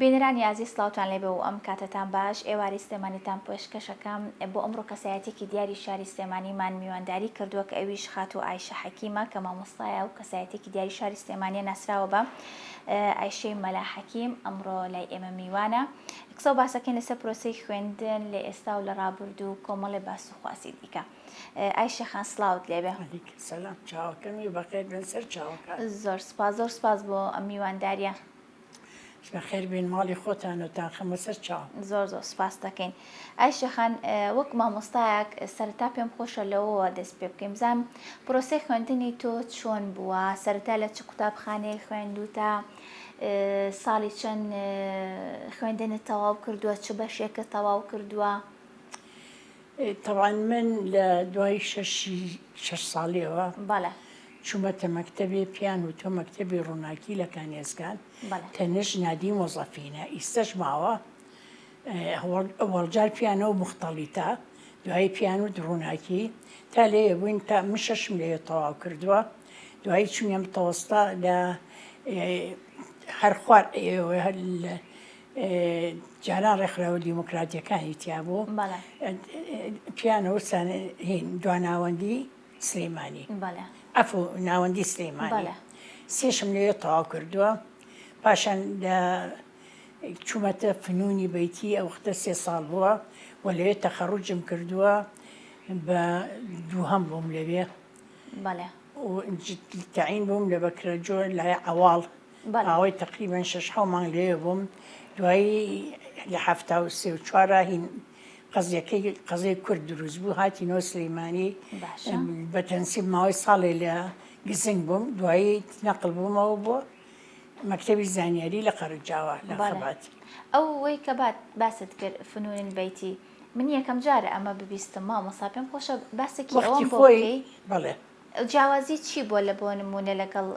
بینەرانی ئازیز سڵاوتان لێبێ و ئەم کاتەتان باش، ئێوارەی سلێمانیتان پێشکەش ئەکەم، بۆ ئەمڕۆ کەسایەتیەکی دیاری شاری سلێمانیمان میوانداری کردووە کە ئەویش خاتوو ئایشە حەکیمە کە مامۆستایە و کەسایەتیەکی دیاری شاری سلێمانیە ناسراوە بە ئایشەی مەلا حەکیم ئەمڕۆ لای ئێمە میوانە قسە و باسەکەین لەسەر پرۆسەی خوێندن لە ئێستا و لە ڕابردوو و کۆمەڵێ باس و خواسی دیکە ئایشە خان سڵاوت لێبێ سەلام چاوەکەمی بەخێر بێن سەر چاوەکان زۆر سپاس زۆر سپاس بۆ ئەم میوانداریە بەخێر بێن ماڵی خۆتان و تان خەمە سەر چاو. زۆر زۆر سپاس دەکەین ئای شێخان وەک مامۆستایەک سەرەتا پێم خۆشە لەوەوە دەست پێ بکەین بزانم پرۆسەی خوێندنی تۆ چۆن بووە سەرەتا لە چ قوتابخانەیەک خوێندوتە ساڵی چەند خوێندنت تەواو کردووە چ بەشێکە تەواو کردووە تەبعەن من لە دوای شەشی شەش ساڵیەوە بەڵێ چوومەتە مەکتەبێ پێیان وتوە مەکتەبی ڕووناکی لە کانێزگان بەڵێ تەنش نادی مۆزەفینە ئیستەش ماوە ئه، هەوەڵ ئەوەڵجار پێیانەوە موختەڵیتە دوایی پێیان وت ڕووناکی تا لێیە بووین تا من شەشم لێیە تەواو کردووە دوایی چووینە متەوەستا لە ئه، هەر خوار ئه، هەر لە جاران ڕێکخراوە دیموکراتیەکانی تیابوو پیان وسان هین دواناوەندی سلێمانی ئەف و ناوەندی سلێمانی سێشم لێ تەواو کردووە پاشان چوومەتە فنونی بیتی ئەو وختە سێ ساڵ بووە و لەوێ تەخەڕوجم کردووە بە دووهەم بووم لەوێ تعین بووم لە بەکرە جۆر لای ئەواڵ ماوەی تەقریبەن شەش حەو مانگ لەوێ بووم دوایی لە حەفتا و سێ و چوارا هین قەزیەکەی قەزەی کورد دروست بوو هاتی نۆ سلیمانی بەتەنسیب ماوەی ساڵێ لە گزنگ بووم دوایی نەقل بوومەوە بۆ مەکتتەبی زانیاری لە قەرجاوە لە خەبات ئەو وەی کە بات باست کرد فنونین بیتی من یەکەم جارە ئەمە ببیستم مامۆسا پێم خۆشە باسێکی ئەوەم بۆی بڵێ جیاوازی چی بووە لە بۆ نموونە لەگەڵ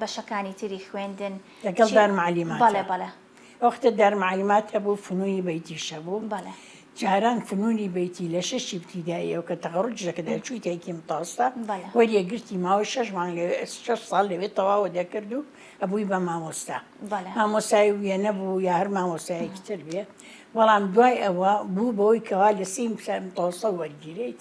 بەشەکانی تری خوێندن؟ لەگەڵ دارمعلیمات؟ بەڵێ بەڵێ. ئەو وەختە دارمعلیمات هەبوو فنونی بەیتیش هەبوو. بەڵێ. جاران فنونی بەیتی لە شەشی ابتیداییەوە کە تەخەڕوجی دەکردای چوویتای کیی متەوەستا وەریەگرتی ماوەی شەش مانگ لەوێ شەش ساڵ لەوێ تەواوە دەکرد و ئەبووی بە مامۆستا. بەڵێ. مامۆستای وێنە بوو یا هەر مامۆستایەکی تر بێ بەڵام دوای ئەوە بوو بەوەی کەوا لە سێی متەوەستا وەرگیرێیت.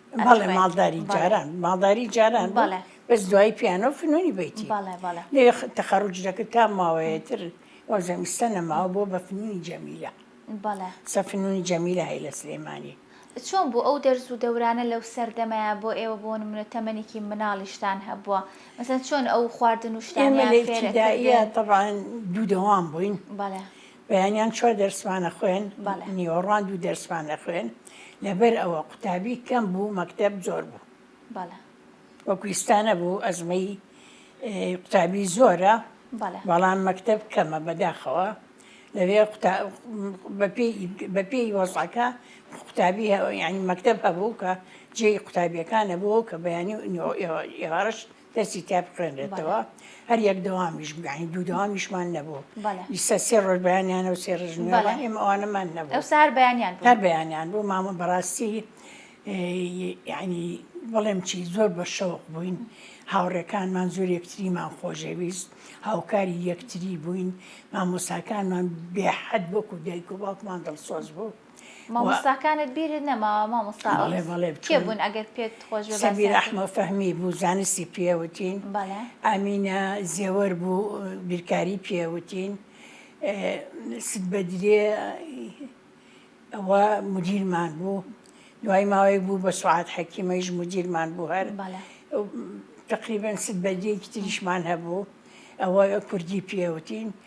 بەڵێ ماڵداری جاران ماڵداری جاران بەڵێ بەس دوای پیانۆ فنوونی بێتی بەڵێ بەڵێ لێ تەخەڕوج دەکرد تا ماوەیەتر وەزەمیستە نەماوە بۆ بە فنوونی جەمیلە بەڵێ سەفنوونی جەمیلە هەی لە سلێمانی چۆن بوو ئەو دەرز و دەورانە لەو سەردەمەیە بۆ ئێوە بۆ نمونە تەمەێکی مناڵیشتان هەبووە مەسەن چۆن ئەو خواردن و شتانیان فێرەدایە تەبان دوو دەوام بووین بەڵێ بەیانیان چوار دەرسمان ئەخوێن نیوەڕوان دوو دەرسمان ئەخوێن لەبەر ئەوە قوتابی کەم بوو مەکتەب زۆر بوو وەکو ئیستانە بوو ئەزمەی قوتابی زۆرە بەڵام مەکتەب کەمە بەداخەوە لەوێ بەپی وەزعەکە قوتابی ینی مەکتب هەبوو کە جێی قوتابیەکانە بوو کە بەیانی ئێوارش دەستی تیا بخوێنرێتەوە هەر یەک دەوامیش بگەین دوو دەوامیشمان نەبوو ئیستا سێ ڕۆژ بەیانیان و سێ ڕژ ئێمە ئەوانەمان نەبوو سار بەیانیان هەر بەیانیان بوو مامە بەڕاستی ینی بەڵێم چی زۆر بە شەوق بووین هاوڕێکانمان زۆر یەکتریمان خۆشەویست هاوکاری یەکتری بووین مامۆساکانمان بێحەد وەکو دایک و باوکمان دڵسۆز بوو مامۆستاکانت بیرت نەماوە مامۆستا ئەو بەڵێ بەڵێ کێ بچوون بوون ئەگەر پێت خۆش بێ سەبی باسیان کە- رەحمە فەهمی بوو زانستی پێوتین بەڵێ ئامینە زێوەر بوو بیرکاری پێوتین ست بەدرێ ئەوە مدیرمان بوو دوای ماوەیەک بوو بە سوعاد حەکیمەیش مدیرمان بوو هەر بەڵێ تقریبا ست بەدرێکی تریشمان هەبوو ئەوە کوردی پێوتین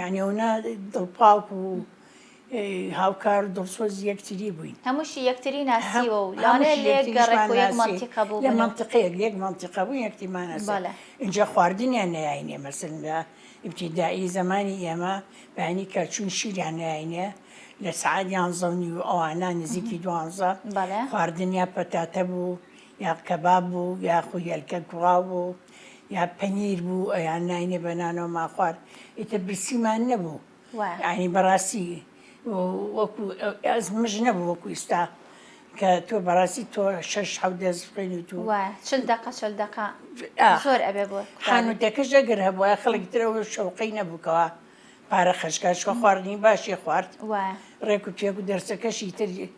یانی ئەونا دڵپاک و هاوکار و دڵسۆزی یەکتری بووین هەمووشی یەکتری ناسیوە و لانێ لێک گەڕێک و یەک مەنتیقە بوو لە مەنتقەیەک یەک مەنتیقە بوو یەکتیمان ناسیوە ئینجا خواردنیان نەیاینێ مەسەلەن لە ئیبتیدایی زەمانی ئێمە بەیانی کەچووین شیریان نەیاینێ لە سەعات یانزە و نیو ئەوانە نزیکی دوانزە خواردنیان پەتاتە بوو یا کەباب بوو یاخو هێلکە کوڵاو بوو یا پەنیر بوو ئەیان ناینێ بە نانەوە ما خوارد ئیتر برسیمان نەبوو ینی بەڕاستی وەکو ئەز مژ نەبوو وەکو ئیستا کە تۆ بەڕاستی تۆ شش حەو دەست خوێن و تو چل دقە چل دقە زۆر ئەبێ بۆ خانوتەکەش ئەگەر هەبووە خەڵک ترەوە شەوقەی نەبووکەوە پارە خەشکاش خواردنی باشی خوارد ڕێک و پێک و دەرسەکەشی تر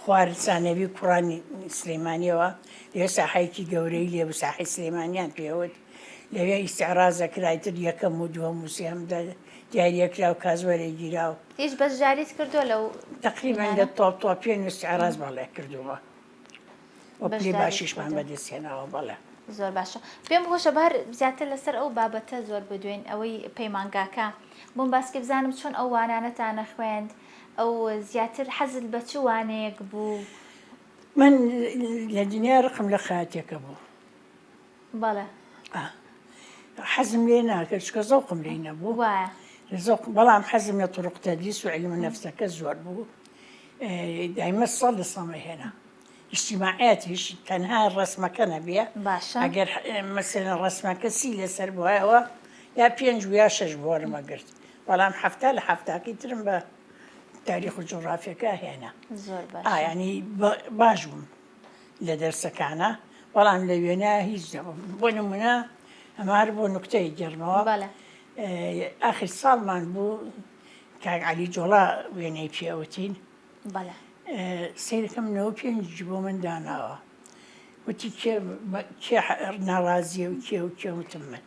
خوار سانەوی کوڕانی سلیمانیەوە لەوێ ساحەیەکی گەورەی لێ بوو ساحەی سلیمانیان پێوت لەوێ ئیستعراز دەکرا ئیتر یەکەم و دووەم و سێهەم دیاری دەکرا و کاس وەرەگیرا و هیچ بەشداریت کردووە لەو تقریبا لە تۆپ تۆپیان و ئیستعراز بەڵێ کردوومە وە پلەی باشیشمان بەدەستهێناوە بەڵێ زۆر باشە پێم خۆشە بە هەر زیاتر لەسەر ئەو بابەتە زۆر بدوێن ئەوەی پەیمانگاکە بۆم باسکە بزانم چۆن ئەو وانانەتانە خوێند ئەو زیاتر حەزت بە چ وانەیەک بوو؟ من لە دنیا ڕقم لە خەیاتیەکە بوو. بەڵێ. حەزم لێ ناکرد چکە زەوقم لێی نەبوو زەوق بەڵام حەزم لە تڕقتە دیس و علم نەفسەکە زۆر بوو دایمە سەد لە سەمە هێنا. ئیجتیماعیاتیش تەنها ڕەسمەکە نەبیە باشە ئەگەر مەسەلەن ڕەسمەکە سی لەسەر بوایەوە یا پێنج و یا شەش بوارم ئەگرت بەڵام حەفتا لە حەفتاکەی ترم بە تاریخ و جوغرافیەکە هێنا زۆر باش ئایانی باش بووم لە دەرسەکانە بەڵام لە وێنا هیچ دەبم بۆ نمونە ئەمە هەر بۆ نکتەی گەرمەوە بەڵێ ئاخر ساڵمان بوو کاک علی جۆڵا وێنەی پێوتین بەڵێ. سەیرەکە منەوە پێنج بۆ من داناوە وتی کێ کێ ناڕازیە و کێ و کێ وتم من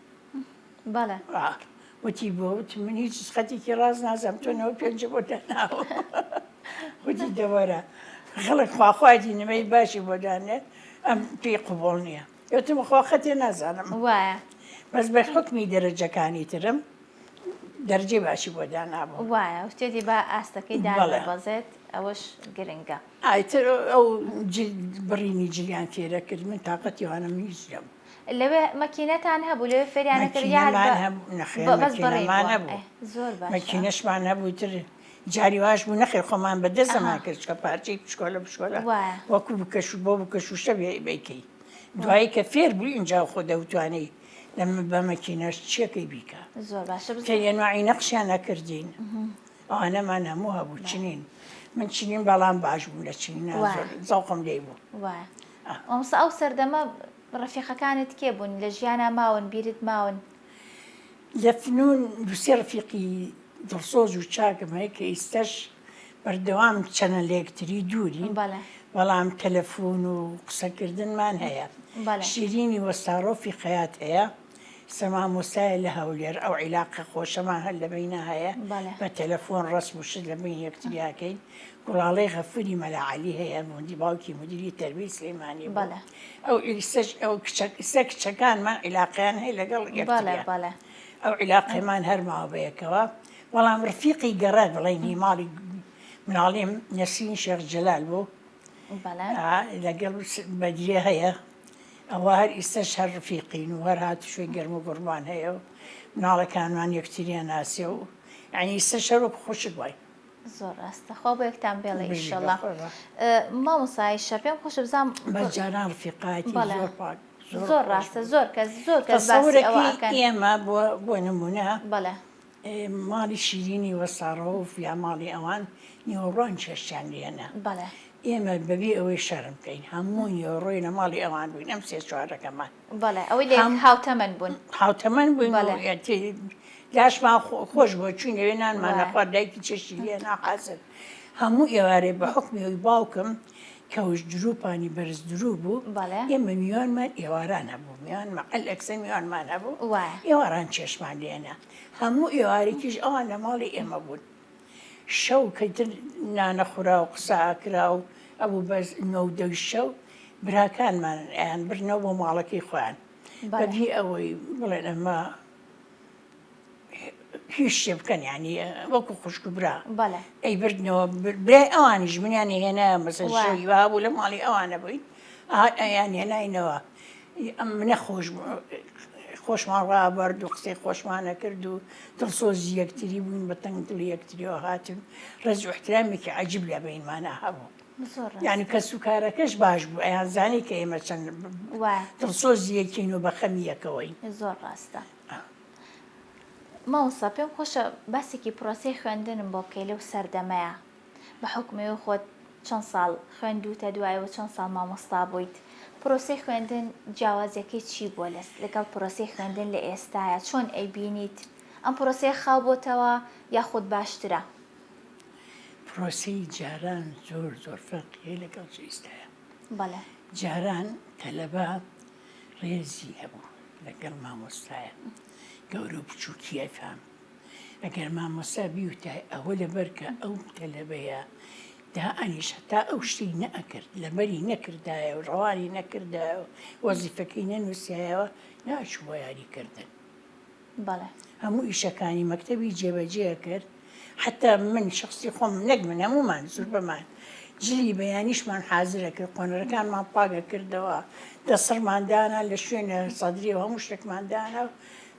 بەڵێ وتی بۆ وت من هیچ خەتێکی ڕاز نازم تۆنەوە پێنج بۆ داناوە وتی دەوەرە خەڵک خواخوادی نمەی باشی بۆ دانێت ئەم پێی قوبڵ نییە گوتم خوا خەتێ نازانم وایە بەس بە حکمی دەرەجەکانی ترم دەرجەی باشی بۆ دانابوو وایە شتێتی بە ئاستەکەی داڵێ بەزێت ئەوەش گرنگە ئایتر ئەو بڕینی جلیان تێرە کرد من تااقەتیوانم هیچ لەم لەوێ مەکینەتان هەبوو لەوێ فێریانەکردمان هەبوو زۆر مەکینەشمان هەبوو تر جاری واش بوو نەخێر خۆمان بە دەستەمان کرد چکە پارچەی پشکۆلە پشکۆلە وەکو بکەش بۆ بکەشوشە بیکەی دوایی کە فێر بوو اینجا خۆ دەوتوانێ لە بە مەکینەش چیەکەی بیکە زۆر باشە بکە یەنوعی نەخشیان نەکردین ئەوانەمان هەموو هەبوو چنین من چنین بەڵام باش بوو لە چین زەوقم لێ بوو ئەمسا ئەو سەردەمە ڕفیقەکانت کێ بوون لە ژیانە ماون بیرت ماون لە فنون دوو سێ ڕەفیقی دڵسۆز و چاکم هەیە کە ئیستەش بەردەوام چەنە لەیەکتری دوورین بەڵام تەلەفون و قسەکردنمان هەیە شیرینی وەستاڕۆفی خەیات هەیە سە مامۆستایە لە هەولێر ئەو عیلاقە خۆشەمان هەر لە بەینا هەیە بە تەلەفۆن ڕسم و شت لە بین یەکتریاکەین گوڵاڵەی غەفوری مەلاعەلی هەیە موندی باوکی مدیری تەربیەی سلێمانی بەڵێ ئەو ئیستەش ئەو کچە ئیستە کچەکانمان عیلاقەیان هەیە لەگەڵ بەڵێ یەکتریان بەڵێ ئەو عیلاقەیمان هەر ماوە بە یەکەوە بەڵام ڕفیقی گەڕە بڵێینی ماڵی مناڵیم نەسرین شێخ جەلال بوو بەڵێ ئا، لەگەڵ س- بەدریە هەیە ئەوە هەر ئیستەش هەر ڕفیقین و هەر هاتوشوی گەرم و گوڕمان هەیە و مناڵەکانمان یەکتریان ناسێ و یانی ئیستەش هەر وەکو خوشک وای زۆر ڕاستە خوا بۆ یەکتان بێڵێ ئیشەڵا مامۆسای شە پێم خۆشە بزانم بەجاران ڕفیقایەتی زۆر ڕاستە زۆر کەس زۆر کەس ئێمە بۆ نمونە بەڵێ ماڵی شیرینی وەساڕۆف یا ماڵی ئەوان نیوەڕوان چێشتیان لێنە بەڵێ ئێمە بەبێ ئەوەی شەرم بکەین هەموو نیوەڕۆی لە ماڵی ئەوان بووین ئەم سێ چوارەکەمان بەڵێ ئەوەی لێ هاوتەمەن بوون هاوتەمەن بووین لاشمان خۆش بۆ چوین لەوێ نانمانەخوا دایکی چێشتی لێ ناقازن هەموو ئێوارێ بە حکمی ئەوی باوکم کەوش دروپانی بەرز درو بوو ئێمە میوانمان ئێواران هەبوو میان مەقل ئەکسە میوانمان هەبوو ئێواران چێشمان لێنە هەموو ئێوارێکیش ئەوان لە ماڵی ئێمە بوون شەو کە ئیتر نانە خورا و قسە ئاکرا و ئەبوو بە نۆ و دەوی شەو، براکانمان ئەیان برنەوە بۆ ماڵەکەی خۆیان. بە بی ئەوەی بڵێن ئەمە هیچ شتێ بکەن یانی وەکو خوشک و برا بەڵێ ئەیبردنەوە بر- برای ئەوانیش منیان هێنایە مەسەر وا. شەوی وا بوو لە ماڵی ئەوانە بووین ئەیان هێناینەوە ی ئەم منە خۆش بوو خۆشمان ڕابەرد و قسەی خۆشمان ئەکرد و دڵسۆزی یەکتری بووین بە تەنگ دڵی یەکتریەوە هاتین ڕێز و احترامێکی عەجیب لە بەینمانا هەبوو زۆر ڕاستە یانی کەس و کارەکەش باش بوو ئەیانزانی کە ئێمە چەند وایە دڵسۆزی یەکین و بە خەمی یەکەوەین زۆر ڕاستە مامۆستا پێم خۆشە باسێکی پڕۆسەی خوێندنم بۆ بکەی لەو سەردەمەیا. بە حوکمەوەی خۆت چەند ساڵ خوێندووتە دوایە و چەند ساڵ مامۆستا بوویت پرۆسەی خوێندن جیاوازیەکەی چی بووە لەس لەگەڵ پرۆسەی خوێندن لە ئێستاە چۆن ئەیبینیت ئەم پرۆسەیە خاو بۆتەوە یاخود باشترە؟ پرۆسەی جاران زۆر زۆر فەرقی هەیە لەگەڵ ئیستایا بەڵێ جاران تەلەبە ڕێزی هەبوو لەگەڵ مامۆستایە گەورە و بچووکی ئەفام ئەگەر مامۆستا بیوتای ئەوە لەبەر کە ئەو تەلەبەیە دائەنیشت تا ئەو شتی نەئەکرد لەبەری نەکردایە و ڕەوانی نەکردایە و وەزیفەکەی نەنووسایەوە ناچوو بە یاریکردن بەڵێ هەموو ئیشەکانی مەکتەبی جێبەجێ کرد حتا من شخصی خۆم نەک من هەمومان زور بەمان جلی بەیانیشمان حازرە کرد قۆنەرەکانمان پاگە کردەوە دەسڕماندانە لە شوێنە سەدرری و هەموو شتێکماندانە و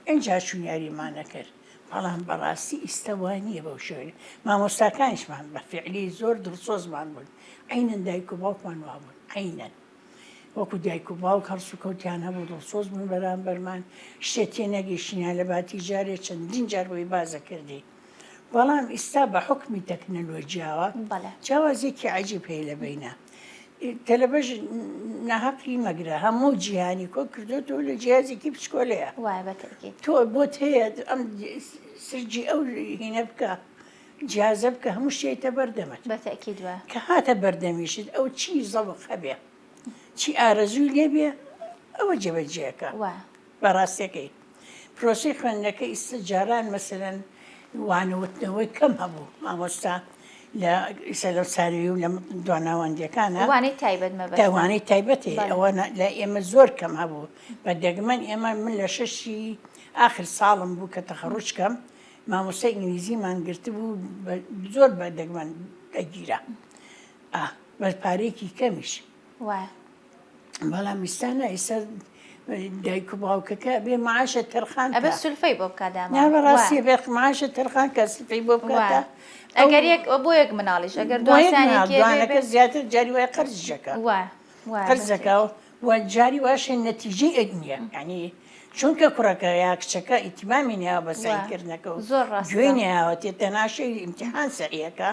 ئینجا چووم یاریمانە کرد بەڵام بەڕاستی ئیستە وا نییە بەو شێوەیە مامۆستاکانیشمان بە فیعلی زۆر دڵسۆزمان بوون عەینەن دایک و باوکمان وا بوون عەینەن وەکو دایک و باوک هەڵس و کەوتیان هەبوو دڵسۆز بوون بەرامبەرمان شتێ تێ نەگەیشتینیان لە باتی جارێ چەندین جار بۆی بازە کردین بەڵام ئیستا بە حوکمی تەکنەلۆجیاوە بەڵێ جیاوازیەکی عجیب هەیە لە بینە تەلەبەش ناهەقی مەگرە هەموو جیهانی کۆ کردوێتەوە لە جیازێکی پچکۆلەیە وایە بە تەکی تۆ بۆت هەیە ئەم سرجی ئەو هینە بکە جیازە بکە هەموو شێتە بەردەمت بە تەکی دووە کە هاتە بەردەمیشت ئەو چی زەڵق هەبێ چی ئارەزووی لێبێ ئەوە جێبەجێەکە وایە بەڕاستەکەی پرۆسەی خوێندنەکە ئیستە جاران مەسەلەن وانەوتنەوەی کەم هەبوو مامۆستا لە ئیسە لەو ساروی و لە دواناوەندەکانە وانەی تایبەت مەبەست داوانەی تایبەتی بەڵێ. ئەوە نە- لە ئێمە زۆر کەم هەبوو بە دەگمەن ئێمە من لە شەشی ئاخر ساڵم بوو کە تەخەڕوج کەم مامۆستای ئینگلیزیمان گرتبوو بە- زۆر بە دەگمەن دەگیرا ئا بە پارەیەکی کەمیش وایە بەڵام ئیسانا ئیسا دایک و باوکەکە بێ معاشە تەرخان ئەبێ سلفەی بۆ بکات داماڕاستی بێ معاشە تەرخان کە سلفەی بۆ بکاتە ئەگەر یەک بۆ یەک مناڵیش ئەگەر دوانەکە زیاتر جاری وای قەرزەکە قەرزەکە و جاری واشە نەتیجی ئەک نییە ینی چونکە کوڕەکە یا کچەکە ئیتیمامی ناوە بەسەکردنەکە و زۆر ڕاستێنیاوە تێتە ناشەی ئیمتحان سەریەکە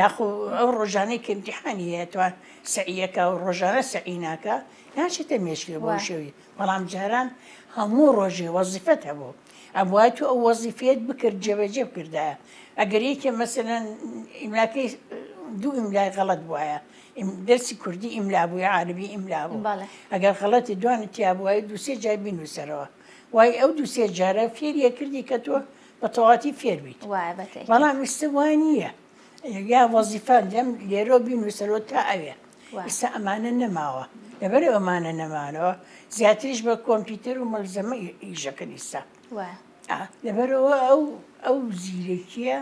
یاخۆ ئەو ڕۆژانەی کە ئیمتیحانی هەیە توا سەعیەکە و ڕۆژانە سەعی ناکە ناچێتە مێشکێ بۆ وە. شەوی بەڵام جاران هەموو ڕۆژێ وەزیفەت هەبوو ئەبوای تو ئەو وەزیفەیەت بکرد جێبەجێ بکردایە ئەگەر یەکێ مەسەلەن ئیملاکەی دوو ئیملای غەڵەت بوایە ئیم دەرسی کوردی ئیملا بووی عاربی ئیملا بوو بەڵێ ئەگەر غەڵەتی دوانی تیا بوای دووسێ جای بینوسەرەوە وای ئەو دووسێ جارە فێریە کردی کە تۆ بەتەواتی فێربیت بەڵام ئیستا وا نییە یا وەزیفان لەم لێرۆ بینوسەرۆ تا ئەوێ ئستا ئەمانە نەماوە لەبەر ئەمانە نەمانەوە زیاتریش بە کۆمپیوتەر و مەلزەمە ئیشەکە ئیستا لەبەرەوە ئەو ئەو زیرەکیە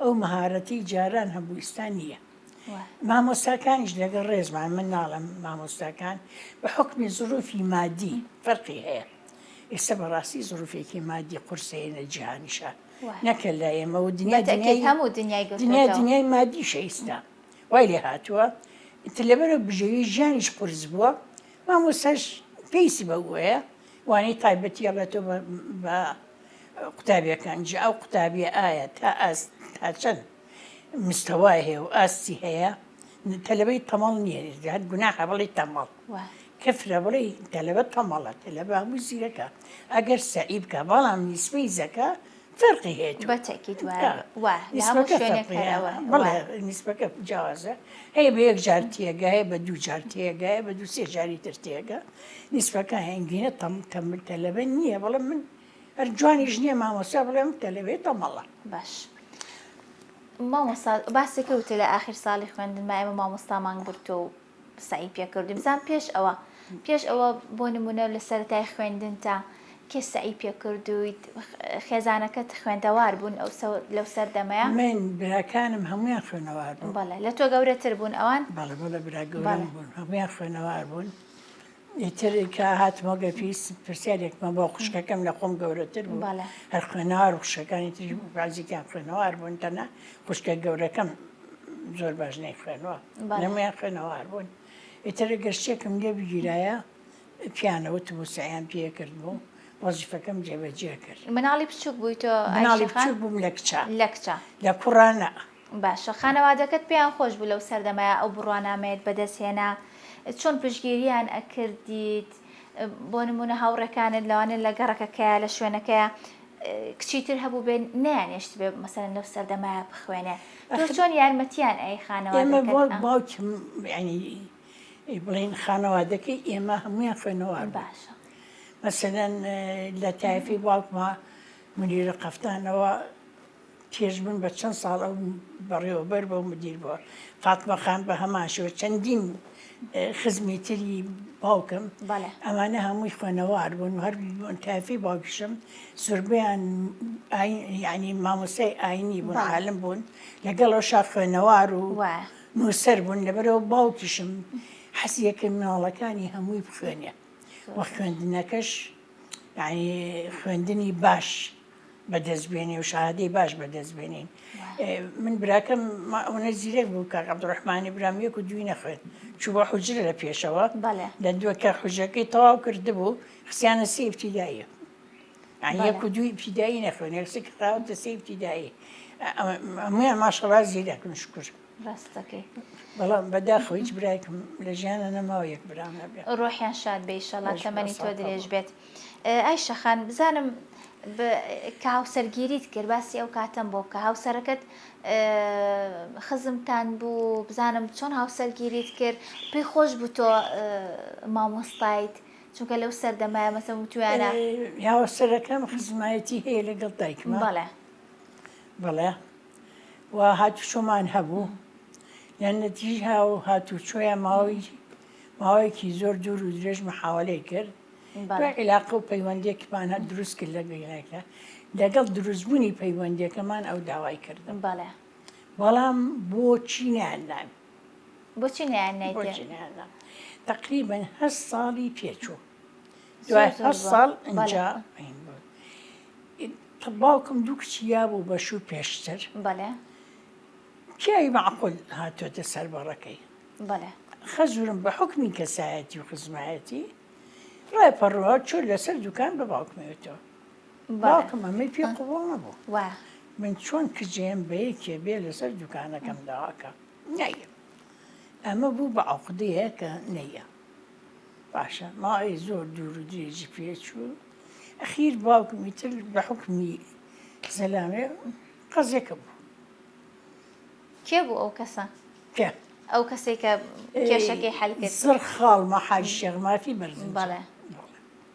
ئەو مەهارەتی جاران هەبوو ئستا نییە مامۆستاکانیش لەگەڵ ڕێزمان من ناڵم مامۆستاکان بە حکمی زروفی مادی فەرقی هەیە ئێستا بەڕاستی زڕوفێکی مادی قورسەیەە جیهانیشە نەکە لە ئێمە و دنیا هەموو دنیای دنیا دنیای مادی شەیستا وای لێ هاتووە ئیتر لەبەرە بژێوی ژیانیش قرس بووە مامۆسەش پێیسی بەگوۆیە وانەی تایبەتی ئەڵێتۆ بە قوتابیەکان جی ئەو قوتابیە ئایا تا ئاست تا چەند مستەوای هەیە و ئاستی هەیە تەلەبەی تەمەڵ نییە هەر گوناحە بڵێی تەمەڵ کەفرە بڵێ تەلەبە تەمەڵە تەلەبە هەموو زیرەکە ئەگەر سەعی بکە بەڵام نیسبەی زەکە فەرقی هەیە بە تەکی نیسبەکە جیازە هەیە بە یەک جار تێگە هەیە بە دوو جار تێگە بە دوو سێ جاری تر تێگە نیسبەکە هەنگینە تەم تەمل تەلەبە نییە بەڵام من هەر جوانیش نیە مامۆستا بڵێم کە لەوێ تەمەڵە. باش مامۆستا باسێ کەوتێ لە ئاخیر ساڵی خوێندن ما ئێمە مامۆستامان گرتووە و سەعی پێ کردوین بزان پێش ئەوە پێش ئەوە بۆ نمونە لە سەرەتای خوێندن تا کێ سەعی پێ کردویت خێزانەکەت خوێندەوار بوون ئەو لەو سەردەمەیە من براکانم هەمویان خوێنەوار بوون بەڵێ لە تۆ گەورەتر بوون ئەوان بەڵێ بەڵێ برا گەورەم بوون هەمویان خوێنەوار بوون ئیتر کە هاتمەوە گەر پێویست پرسیارێکمان بۆ خوشکەکەم لە خۆم گەورەتر بوو بەڵێ هەر خوێنەوار و خوشەکانی تری بازیکیان خوێنەوار بوون تەنە خوشکە گەورەکەم زۆر باش نەی خوێنەوە بەڵێ. نەمویان خوێنەوار بوون ئیتر گەر شتێکم لێ بگیرایە پیانەوت و سەیان پێ کرد بوو وەزیفەکەم جێبەجێ کرد مناڵی بچووک بووی تۆ ئای مناڵی شێخان بچوک بووم لە کچە لە کچە لە کوڕانە باشە خانەوادەکەت پێیان خۆش بوو لەو سەردەمەیا ئەو بڕوانامەیەت بەدەست هێنا چۆن پشگیریان ئەکردیت بۆ نمونە هاوڕێکانت لەوانێت لە گەڕەکەکەیە لە شوێنەکەیە کچی تر هەبوو بێ نانێشت بێ مەسەرەن لەو سەردەمایە بخوێنێ تۆ چۆن یارمەتیان ئەی خانەوە باوکم بڵین خانەوادەکەی ئێمە هەمویان خوێنەوار باشە مەسەرەن لە تایفی باوکمە منیرە قەفتانەوە چێژبن بە چەند ساڵ ئەو بەڕێوەبەر بە و مدیر بووە. فاتمە خان بە هەمان شێوە چەندین خزمی تری باوکم، بەڵێ. ئەمانە هەمووی خوێنەوار بوون و هەر بوون تایفی باوکیشم زۆربەیان ئاین یعنی مامۆستای ئاینی بوون، بەڵێ. عالم بوون، لەگەڵەوەشا خوێنەوار و وایە. نووسەر بوون، لەبەرئەوە باوکیشم حەزی کرد مناڵەکانی هەمووی بخوێنێ و خوێندنەکەش یعنی خوێندنی باش. بەدەست بێنێ و شەهادەی باش بەدەست بێنین من براکەم ئەوە زیرەک بوو کاک عبدڕحمانی برام یەک و دوی نەخوێن چوو بە حجرە لە پێشەوە لە دووەکە حوژەکەی تەواو کرد بوو خسیانە سی ابتیدایە یەک و دوی ابتیدایی نەخوێن یەکسێک خراوەتە سی ابتیدایی ئەمویان ماشەڵا زیرەکن شکر ڕاست دەکەی بەڵام بەداخەوە هیچ برایکم لە ژیانە نەماوە یەک برام هەبێ ڕۆحیان شاد بێ ئیشەڵا بەش تەمەنی بەسە تۆ کەڵە. درێژ بێت ئه، ئای شەخان بزانم ب- کە هاوسەرگیریت کرد باسی ئەو کاتەم بۆ بکە هاوسەرەکەت ئه، خزمتان بوو بزانم چۆن هاوسەرگیریت کرد پێی خۆش بوو تۆ ئه، مامۆستایت چونکە لەو سەردەمایە مەسە وتویانە یاوەسەرەکەم خزمایەتی هەیە لەگەڵ دایکمە بەڵێ بەڵێ و هاتوچۆمان هەبوو، لە نەتیجە ئەو هاتوچۆیە ماوەی ماوەیەکی زۆر دوور و درێژ محاوەلەی کرد بە عیلاقە و پەیوەندێکمان هەر دروست کرد لە گەیلێکە لەگەڵ دروستبوونی پەیوەندەکەمان ئەو داوای کردم بەڵێ بەڵام بۆچی نیاندان بۆچی نیان تقریبن هە ساڵی پێچوو دوای هەشت ساڵ ئینجا باوکم دوو کچی یابوو بە شوو پێشتر بەێ پیاوی معقول هاتۆتە سەر بەڕەکەی بەێ خەزورم بە حکمی کەسایەتی و خزمایەتی ڕای پەڕوە چۆ لەسەر دوکان بە باوکمێتەوە باوکم ئەمەی پێ قوڵ نەبوو من چۆن کجێم بە یەکێ بێ لەسەر دوکانەکەم داواکە نەیە ئەمە بوو بە عقدەیە کە نەیە باشە ماوەی زۆر دوور و درێژی پێچوو ئەخیر باوکم ئیتر بە حوکمی زەلامێ قەزێکە بوو کێ بوو ئەو کەسە کە ئەو کەسێک کە کێشەکەی حل کرد زڕ خاڵمە حاج شێخ مافی بەرزن بەڵێ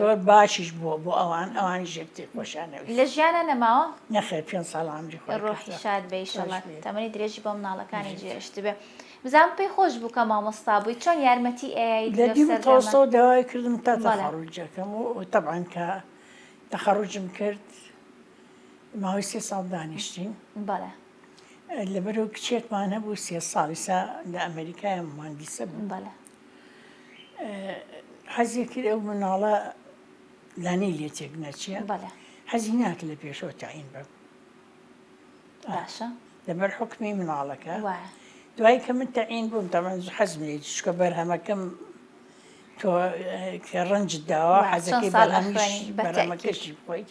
زۆر باشیش بووە بۆ ئەوان ئەوانیش یەکتری خۆشیان ئەویست. لە ژیانا نەماوە؟ نەخێر پێنج ساڵ عەمری خۆی کردووە. ڕۆحی شاد بێ ئیشەڵا تەمەنی درێژی بۆ مناڵەکانی جێهێشت بێ. بزانم پێی خۆش بوو کە مامۆستا بووی چۆن یارمەتی ئەیایت لەو سەردەمە؟ لە دیو تۆسەوە داوای کردم تا تەخەڕوجەکەم و تەبعەن کە تەخەڕوجم کرد ماوەی سێ ساڵ دانیشتین. بەڵێ. لەبەرئەوەی کچێکمان هەبوو سێ ساڵ ئیسا لە ئەمەریکایە موهەندیسە بوو. بەڵێ. حەزی کرد ئەو مناڵە لانی لێ تێک نەچێ حەزی ناکە لە پێشەوە تاین بم باشە لەبەر حکمی مناڵەکە دوای کە من تەعین بووم تەمە حەزم لێ چکە بەرهەمەکەم تۆ کە ڕەنج داوە حەزەکەی بەڵامیش بەرەمەکەشی بخۆیت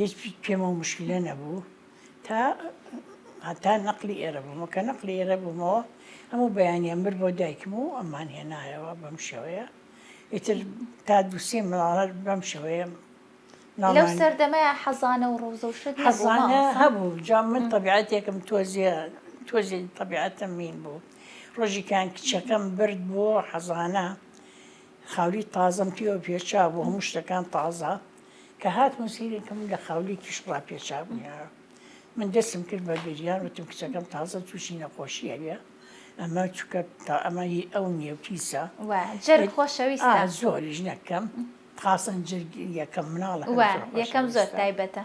هیچ پێمە و مشکلە نەبوو تا هەتا نەقلی ئێرە بوومە کە نەقلی ئێرە بوومەوە هەموو بەیانە مر بۆ دایکم و ئەمان هێنایەوە بەم شێوەیە ئیتر تا دووسێ ماڵەر بەم شێوەیە لەو سەردەمەیە حەزانە و ڕۆزە و شت حەزانە هەبوو جا من طبیعەتێکم تۆزیە تۆزی طبیعەتم مین بوو ڕۆژیکان کچەکەم برد بۆ حەزانە خاوری تازم پێوە پێچا بۆ هەموو شتەکان تازە کە هاتمە سەیرێکم لە خاولی کیش ڕاپێچابوو یارا من دەستم کرد بە گریان وتم کچەکەم تازە تووشی نەخۆشی هەیە ئەمە چکە تا ئەمە هی ئەو نیێو پیسە جەر خۆشەویستە زۆریش نەکەم خاصن جرگ یەکەم مناڵ یەکەم زۆر تایبەتە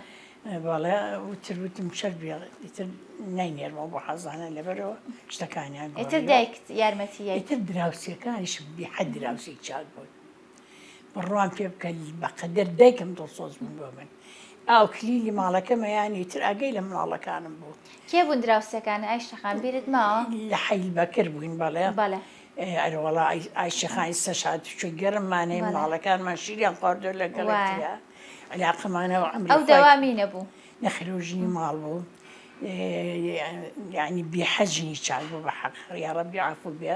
بەڵێ وتر وتم شەر بێتر نینێرمەوە بۆ حەزانە لەبەرەوە شتەکانیان ئیتر دایکت یارمەتی یەکتر دراوسەکانیش بێحە دراوسی چاک بوون بڕوام پێ بکە بەقەدەر دایکم دڵسۆز بوو بۆ من ئاو کلیلی ماڵەکەمەیانی تر ئاگەی لە مناڵەکانم بوو کێ بوون دراوسەکان ئایشەخان بیرت ماوە لە حەیل بەکر بووین بەڵێ بەڵێ ئەرەوەڵا ئایشەخانی سەشات چوی گەرممانەی مناڵەکانمان شیریان خواردۆ لەگەڵ علاقەمانەوە ئەم ئەو دەوامی نەبوو نەخرۆژنی ماڵ بوو یعنی بێحەجنی چاک بوو بە حەق ڕیا ڕەبی عفو بێ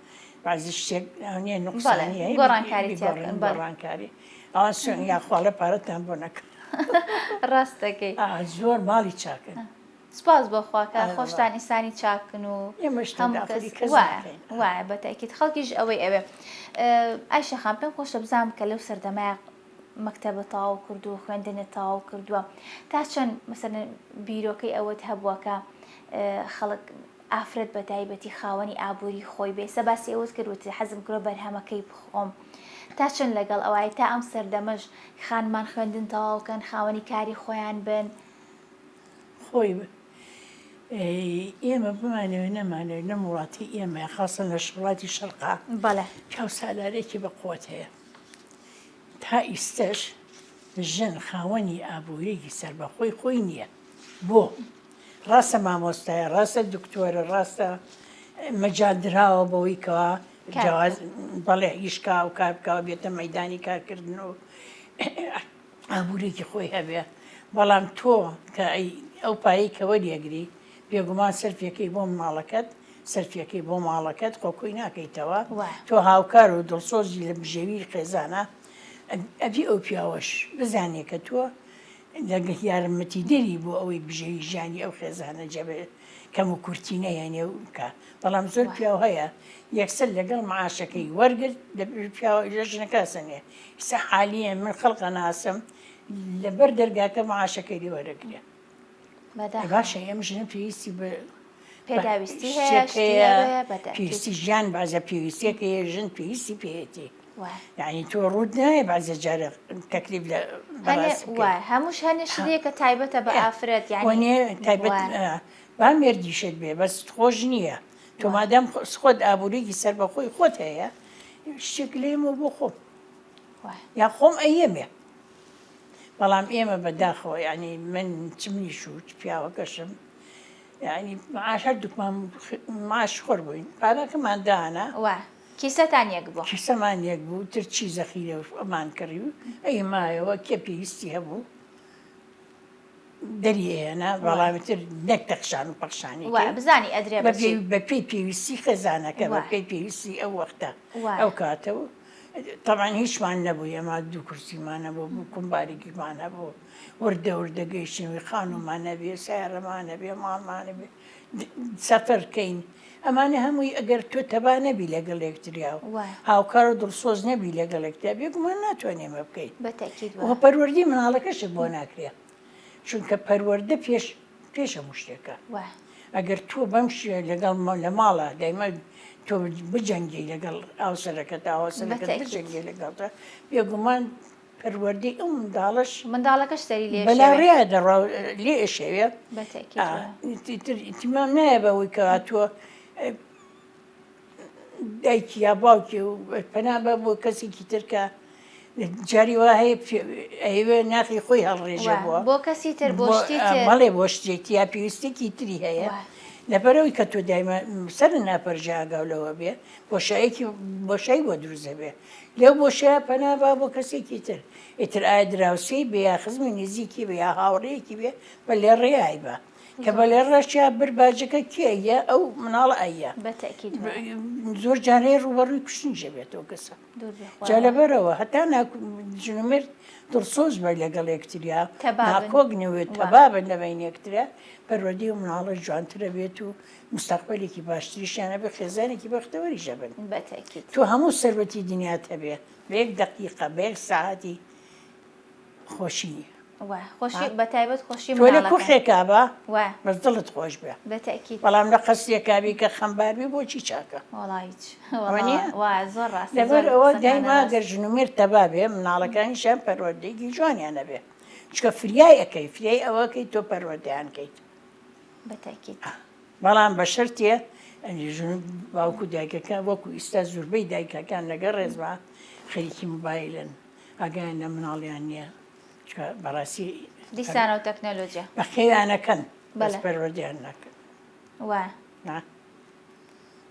بازی شتێک نیە نقصانی گۆڕانکاری گۆڕانکاری ئەوان سوێن یاخواڵە پارەتان بۆ نەکە ڕاستەکەی زۆر ماڵی چاکن سپاس بۆ خواکە خۆشتان ئیسانی چاکن و وایە بەتەکیت خەڵکیش ئەوەی ئەوێ ئایشەخان پێم خۆشە بزانام کە لەو سەردەمای مەکتتەبە تاو کرد و خوێندنە تاو کردووە تا چەند مەسەر بیرۆکەی ئەوەت هەبووەکە خەڵک ئافرەت بەتایبەتی خاوەنی ئابوری خۆی بێ سەباسی ئەوەت کرد وتی حەزم کرۆ بەرهەمەکەی بخۆم تا چەند لەگەڵ ئەوای تا ئەم سەردەمەش خانمان خوێندن تەواوکەن خاوەنی کاری خۆیان بن خۆی بن ئێمە بمانەوە نەمانەوە نەم وڵاتی ئێمە خاصن لە شڵاتی شەرقا بەڵێ چاو سالارێکی بەقوت هەیە تا ئیستەش ژن خاوەنی ئابووریگی سەربەخۆی خۆی نییە بۆ؟ ڕاستە مامۆستایە ڕاستە دکتۆرە ڕاستە مەجال دراوە بەوەی کەوا جیاواز بەڵێ هیشکا و کار بکەوە بێتە مەدانی کارکردن و ئابوورێکی خۆی هەبێ بەڵام تۆ کە ئەو پایی کە وەریەگری بێگومان سەرفیەکەی بۆ ماڵەکەت سەرفیەکەی بۆ ماڵەکەت خۆکۆی ناکەیتەوە تۆ هاوکار و دڵسۆزی لە بژێوی خێزانە ئەبی ئەو پیاوەش بزانێ کە تۆ دەنگت یارمەتیدەری بۆ ئەوەی بژێوی ژیانی ئەو خێزانە جێبە کەم و کورتی نەهێنێ و بکا بەڵام زۆر پیاو هەیە یەکسەر لەگەڵ معاشەکەی وەرگرت دەبێت پیاوە ئیرە ژنەکە سەنێ ئیستا حالیەن من خەڵقە ناسم لەبەر دەرگاکە معاشەکەی لێ وەرەگرێ بەدا باشە ئێم ژنە پێویستی بە پێداویستی هەیە شتێک هەیە بەدا پێویستی ژیان بازە پێویستیەکە هەیە ژن پێویستی پێیەتی یعنی تۆ ڕوت نایە بەزە جارە تەکلیف لە هەمووش هەنێ شتێکە تایبەتە بە ئافرەت یانێ تایبەت با مردیشت بێ بەس خۆش نییە تۆ مادەم خۆت ئابووریکی سەر بە خۆی خۆت هەیە شتێک لێمە بۆ خۆم یا خۆم ئەیەمێ بەڵام ئێمە بەداخەوە ینی من چ منیش و پیاوەکەشم ینی معاش هەردووکمان معاش خۆر بووین پارەکەمان دانا کیسەتان یەک بوو. کیسەمان یەک بوو تر چی زەخیرە و ئەمان کڕی و ئەی مایەوە کێ پێویستی هەبوو دەری ئەهێنا بەڵامی تر نەک تەخشان و پەخشانی بزانی ئەدرێ بە پێی پێویستی خێزانەکە بە پێی پێویستی ئەو وەختە ئەو کاتە و تەمان هیچمان نەبوو ئێمە دوو کورسیمانە بۆ بوو کومبارێکیمانە بوو وردە وردە گەیشتنەوەی خانومانە بێ سیارەمانە بێ ماڵمانە بێ سەفەر کەین ئەمانە هەمووی ئەگەر تۆ تەبا نەبی لەگەڵ لەکتریا و هاوکار و دڵسۆز نەبی لەگەڵ لەکتیا بێگومان ناتوانێ مە بکەیت پەروەردی مناڵەکەشت بۆ ناکرێ چونکە پەروەەردە پێش پێشە مشتێکە ئەگەر تۆ بەم شێ لەگەڵ لە ماڵە دایمە تۆ بجەنگی لەگەڵ ئاوسەرەکە تاوەسەرەکە بجەنگی لەگەڵدا بێگومان پەروەردەی ئەو منداڵەش منداڵەکەش سەری لێ بەلا ڕێیا دەڕا لێ ئەشەوێ ئیتیمام نایە بەوەی کەواتووە دایکی یا باوکی و پەنا بە بۆ کەسێکی ترکە جاری وا هەیە ئەوێ ناخی خۆی هەڵڕێژە بووە بۆ کەسی تر بۆ بەڵێ بۆ شتێکی یا پێویستێکی تری هەیە لەبەرەوەی کە تۆ دایمە سەر ناپەرژاگاو لەوە بێ بۆشایەکی بۆشای بۆ دروزە بێ لەو بۆشایە پەنا با بۆ کەسێکی تر، ئیتر ئایا دراوسێی بێ یا خزمی نزیکی بێ یا هاوڕێیەکی بێ بە لێڕێ ئایبا. کە بە لێڕێ چیا بر باجەکە کێ ئەیە ئەو مناڵە ئەیە. بە تەئکید وایە. زۆر جار هەیە ڕووبەڕووی کوشتنیش ئەبێت ئەو کەسە. دوور بێ خوایەوە. جا لەبەرئەوە هەتا نا ژن و مێرد دڵسۆز بن لەگەڵ یەکتریا، تەبا بن. ناکۆک نەبێت، وا. تەبا بن لە بەین یەکتریا، پەروەردەی ئەو مناڵە جوانتر ئەبێت و مستەقبەلێکی باشتریشیان هەبێ خێزانێکی بەختەوەریش هەبن بەتەئکید. تۆ هەموو سەروەتی دنیات هەبێ بە یەک دەقیقە بە یەک سەعاتی خۆشی نییە. وە خۆشی بە تایبەت خۆشی تۆ لە مناڵەکان کوخێکا بە وە بەس دڵت خۆش بێ بەتەئکید بەڵام لە قەسرێکا بی کە خەمبار بی بۆچی چاکە؟ وەڵا هیچ وەڵا وانیە؟ وە زۆر ڕاستە زۆر لەبەر ئەوە قسەکانت دایما ڕاستە. گەر ژن و مێرد تەبا بێ مناڵەکانیشیان پەروەردەیەکی جوانیان هەبێ چونکە فریای ئەکەی فریای ئەوە ئەکەی تۆ پەروەردەیان کەیت. بە تاکید بەڵام بە شەرتێ باوکو دایکەکە وەکو ئیستا زوربەی دایکەکان لەگە ڕێزما خەریکی موبایلن ئاگیان لە مناڵیان نییە بەڕاستی دیسانە و تەکنەلۆجیا بەخێوانەکەن بەس پەروەردیان ناکەن وا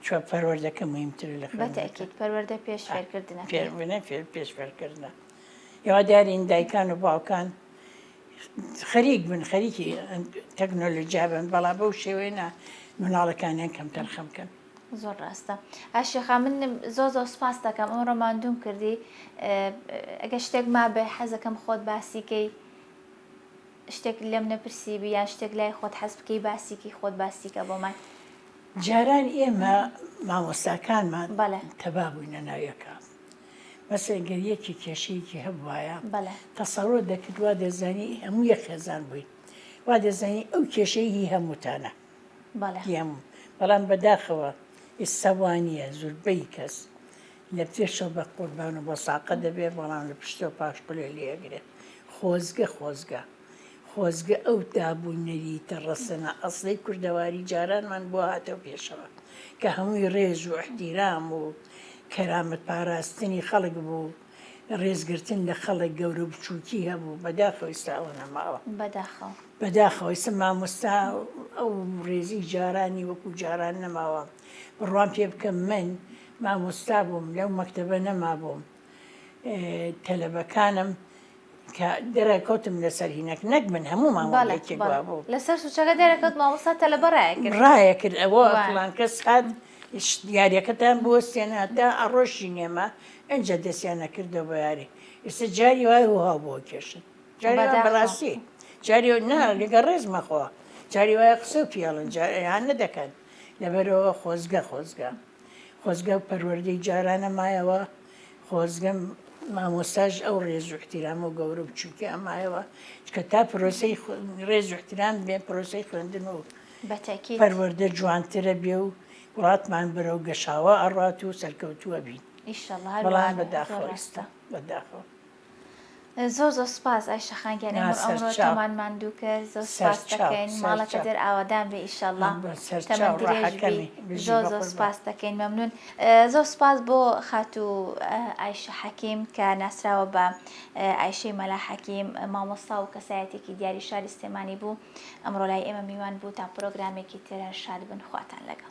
چوە پەروەردەکە مهمتر لە بەتەکیت پەروەردە پێش فێرکردنە پێش فێرکردنە یوا دیارین دایکان و باوکان خەریک بن خەریکی تەکنۆلۆجیا بن بەڵام بەو شێوەیە نا مناڵەکانیان کەمتەرخەم بکەن. زۆر ڕاستە ئای شێخا من زۆ زۆ سپاس دەکەم ئەو ڕۆماندوم کردی ئەگە شتێک ما بێ حەزەکەم خۆت باسیکەی شتێک لەم نەپرسی بی یان شتێک لای خۆت حەز بکەی باسیکی خۆت باسیکە بۆمان جاران ئێمە مامۆستاکانمان بەڵێ تەبا بووینە ناویەکە بەس ئەگەر یەکێ کێشەیەکی هەبوایە تەسەوەر دەکرد وا دەزانی هەموو یەک خێزان بووین وا دەزانی ئەو کێشەی هی هەمووتانە هەموو بەڵام بەداخەوە ئێستا وانە زوربەی کەس لە پێشەوە بە قوربان و بە ساقە دەبێت بەڵام لە پشتەوە پاشقلێ لێگرێت خۆزگە خۆزگە. خۆزگە ئەو دابوو نەریتە ڕەسەنە ئەسڵی کوردەواری جارانمان بۆ هاتەو پێشەوە کە هەمووی ڕێز و ئیحتیرام و کەرامەت پاراستنی خەڵک بوو، ڕێز گرتن لە خەڵک گەورە و بچووکی هەبوو، بەداخەوە ئیستا ئەوە نەماوە. بەداخەوە. بەداخەوە ئیستا مامۆستا ئەو ڕێزی جارانی وەکوو جاران نەماوە. بڕوام پێ بکە من مامۆستا بووم لەو مەکتەبە نەمابووم. تەلەبەکانم کە دەرەکەوتم لەسەر هینەک نەک من هەموو مامەڵێکی بوو لەسەر سوچەکە دەرەکەوت مامۆستا تەلە بەڕایە کرد ڕایە کرد ئەوە فڵان کەس هات دیارەکەتان بۆ سێنادا ئەڕۆشی نێمە ئەجا دەستیان نەکردە بۆ یاری ئێستا جاری وای وها بۆ کێشن جاری بەڕاستی جاری نا لەگە ڕێز مەخۆ جاری وایە قسە و پیاڵن جاریان نەدەکەن لەبەرەوە خۆزگە خۆزگە خۆزگە ئەو پەروەردەی جارانە مایەوە خۆزگە مامۆستاش ئەو ڕێز و احتیرام و گەورە بچوکیان مایەوە چکە تا پرۆسەی ڕێز و احترام بێ پرۆسەی خوێندن و بەتەکی پەروەردە جوانترە بێ و وڵاتمان بەرەو گەشاوە ئەڕات و سەرکەوتووە بین ئیشەڵا بەڵام بەداخەوە ئێستا بەداخەوە زۆر زۆر سوپاس ئای شەخان گیان نا ئێمە ئەمڕۆ سەرچاو تۆمان ماندوو کرد زۆر سوپاست سەرچاو دەکەین ماڵەکە سەرچاو دێر ئاوادان بێ ئیشەڵا هەم تەمەن سەرچاو درێژ بی ڕەحەکەمی بژی زۆر زۆر بەقوربان سوپاست دەکەین مەمنون زۆر سوپاس بۆ خاتوو ئە، ئایشە حەکیم کە ناسراوە بە ئە، ئایشەی مەلا حەکیم مامۆستا و کەسایەتیەکی دیاری شاری سلێمانی بوو ئەمڕۆ لای ئێمە میوان بوو تا پرۆگرامێکی تر هەر شاد بن خواتان لەگەڵ.